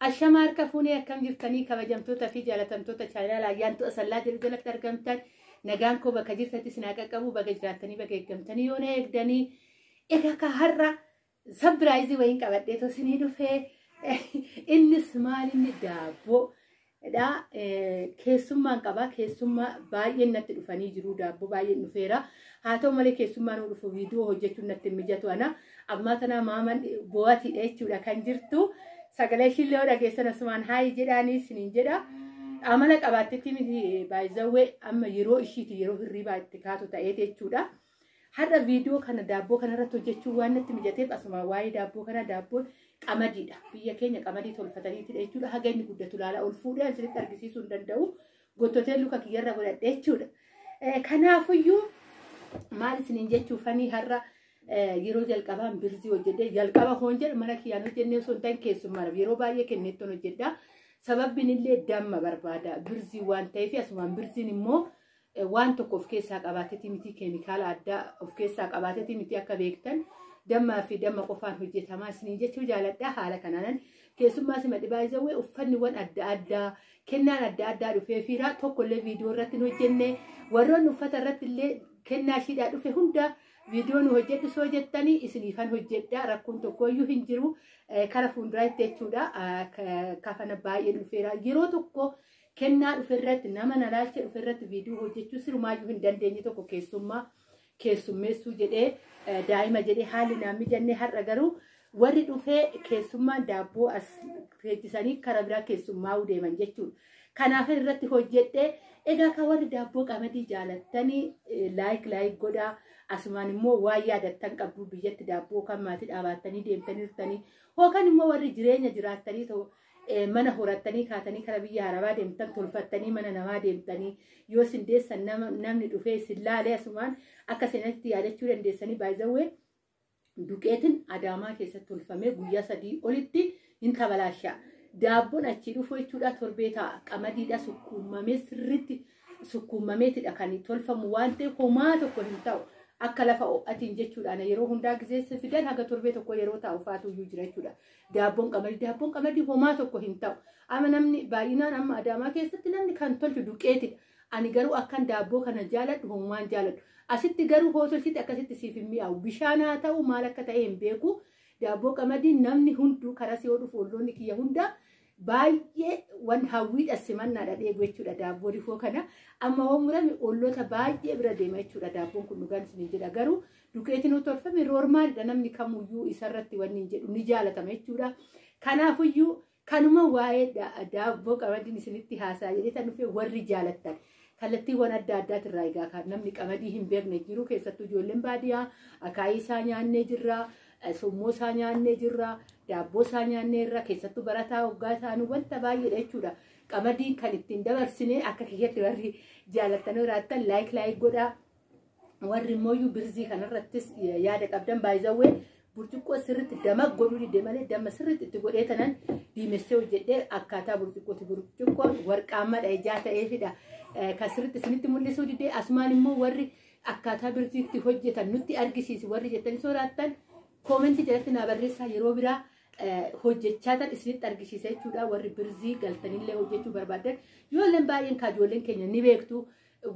Ashama harka fuunee akkam jirtanii kabajamtoota fi jaalatamtoota chaayinaala ayyaantu asallaa jedhu jalatti argamtan nagaan koo bakka jirtatti sinaa qaqqabu baga jiraattanii baga eeggamtanii yoo na eegdanii egaa ka har'a sabiraayizii wayiin qabadhee tosinii dhufee innis maal inni daabboo dha. Keessummaan qaba. Keessummaa baay'een natti dhufanii jiru. Daabboo baay'een dhufeera. Haa ta'u malee keessummaa nu dhufu viidiyoo hojjechuun natti hin mijatu ana. Ammaa tanaa maaman boo'atiidha jechuudha kan jirtu. Sagalee ishiillee yoo dhageessan asumaan haayi jedhaanii isiniin jedha. Amala qabaattetti miti baay'izawwee amma yeroo ishiiti yeroo hirriibaa itti kaatu ta'eeti jechuudha. Har'a viidiyoo kana daabboo kana irratti hojjechuun waan natti mijateef asumaan waa'ee daabboo kana daabboon qamadiidha. Biyya keenya qamadii tolfataniitidha jechuudha. Haga inni guddatu laala ol fuudhee asirratti argisiisuu hin danda'u. Gottotee luka kiyyarra godhadhe jechuudha. Kanaafuyyuu maal isiniin jechuufanii har'a yeroo jalqabaan birzii hojjedhee jalqaba hoon jedhe mana kiyyaan hojjennee osoo hin ta'in keessummaadhaaf yeroo baay'ee kenneettoon hojjedha. Sababbiin illee damma barbaada birzii waan ta'eef asumaan birziin immoo waan tokko of keessaa qabaatetii miti keemikaala addaa of keessaa qabaatetii miti akka beektan dammaa fi damma qofaan hojjetamaa isiniin jechuu jaaladha haala kanaanan keessummaa sima dhibaa jawwee uffanniwwan adda addaa kennaan adda addaa dhufee fiiraa tokkollee viidiyoo irratti hin hojjenne warroonni uffata irratti illee kennaa ishiidhaa dhufe hunda viidiyoo nu hojjedhu soo jettanii isiniifan hojjedha rakkoon tokkoyyuu hin jiru kara fuulduraatti jechuudha kafana baay'ee dhufeera yeroo tokko Kennaa dhufe irratti nama na laalcha dhufe irratti viidiyoo hojjechuu sirumaayyuu hin dandeenye tokko keessummaa keessummeessuu jedhee eh, daa'ima jedhee haalli naan mijanne har'a garuu warri dhufee keessummaan daabboo as teechisanii karaa biraa keessummaa'uu deeman jechuudha. Kanaaf irratti hojjedhee egaa kan warri daabboo qamadii jaalattanii eh, laayik laayik godhaa asumaan immoo waa yaadattan qabdu biyyatti daabboo kan maatii dhaabattanii deemtanii jirtanii yookaan immoo warri jireenya jiraattanii ta'u mana horattanii kaatanii kara biyya harabaa deemtan tolfattanii mana namaa deemtanii yoo isin deessan namni dhufee isin laalee asumaan akka seenatti yaadachuu dandeessanii baay'izawwee duqeetiin adaamaa keessatti tolfamee guyyaa sadii olitti hin tabalaasha. Daabboon achii dhufu jechuudha torbee ta'a qamadiidha sukkuumamee sirriitti sukkuumameetidha kan tolfamu waan ta'eef homaa tokko hin ta'u. akka lafa ho'atiin jechuudhaan yeroo hundaa gizeessa fidan haga torbee tokko yeroo taa'u faatuyyuu jira jechuudha. Daabboon qamadii daabboon qamadii homaa tokko hin ta'u. Amma namni baay'inaan amma adaamaa keessatti namni kan tolchu duqeetidha. Ani garuu akkan daabboo kana jaaladhu homaan jaaladhu. Asitti garuu hoo tolchiti akkasitti siif hin mi'aawu. Bishaan haa ta'u maal akka ta'e hin beeku. Daabboo qamadii namni hunduu karas yoo dhufu olloonni kiyya hundaa baay'ee wan hawwiidha simannaadha dheebu jechuudha daabboo rifoo kana. Amma hoo murame olloota baay'ee bira deema jechuudha daabboon kun dhugaan isin jedha garuu Dukeetiin utuu tolfame roormaaliidha namni kamuyyuu isarratti wanni hin jedhu ni jaalatama jechuudha. Kanaafuyyuu kanuma waa'ee daabboo qamadiin isinitti haasaa jedhee tan dhufee warri jaalattan. Kallattiiwwan adda addaati irraa egaa kan namni qamadii hin beekne jiru keessattuu ijoolleen baadiyyaa akaayii isaa nyaannee jirra. Summoo isaa nyaannee jirra. Daabboo isaa nyaannee irra keessattuu barataa hoggaa isaanii wanta baay'eedha jechuudha. Qamadiin kan ittiin dabarsinee akka kiyyatti warri jaalattan jiraattan laayik laayik godhaa. warri immoo iyyuu birzii kanarrattis yaada qabdan baay'izawwee burcuqqoo sirriitti dama godhuu didde malee damma sirriitti itti godhee tanan diimessee hojjedhee akkaataa burcuqqooti burcuqqoo warqaammadha ijaa ta'eefidha kan sirriitti isinitti mul'isuu didde asumaan immoo warri akkaataa birziitti hojjetan nutti argisiisi warri jettanii soraattan koomentii jalatti naa barreessaa yeroo biraa hojjechaa tan isinitti argisiisa jechuudha warri birzii galtanillee hojjechuu barbaadan yoo illeen baay'een kaajoolleen keenya ni beektu.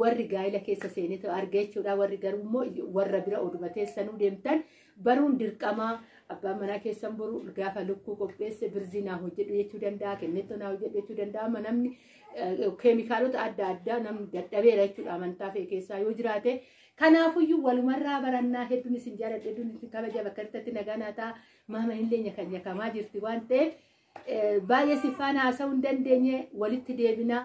warri gaa'ila keessa seenetu arge jechuudha. Warri garuu immoo warra bira oduma teessanuu deemtan baruun dirqamaa abbaan manaa keessan boru gaafa lukkuu qopheesse birzii naa hojjedhu jechuu danda'a, kennettoo naa hojjedhu jechuu danda'a. Amma namni eh, keemikaalota adda addaa namni dadhabeera jechuudha amantaa fe'e keessaa yoo jiraate. Kanaafuyyuu walumarraa barannaa hedduun isin jaaladha hedduun isin kabaja bakka irratti nagaa naa ta'a. Maama hin leenye kan nyakamaa jirti waan ta'eef eh, baay'ee siffaan haasa'uu hin dandeenye walitti deebinaa.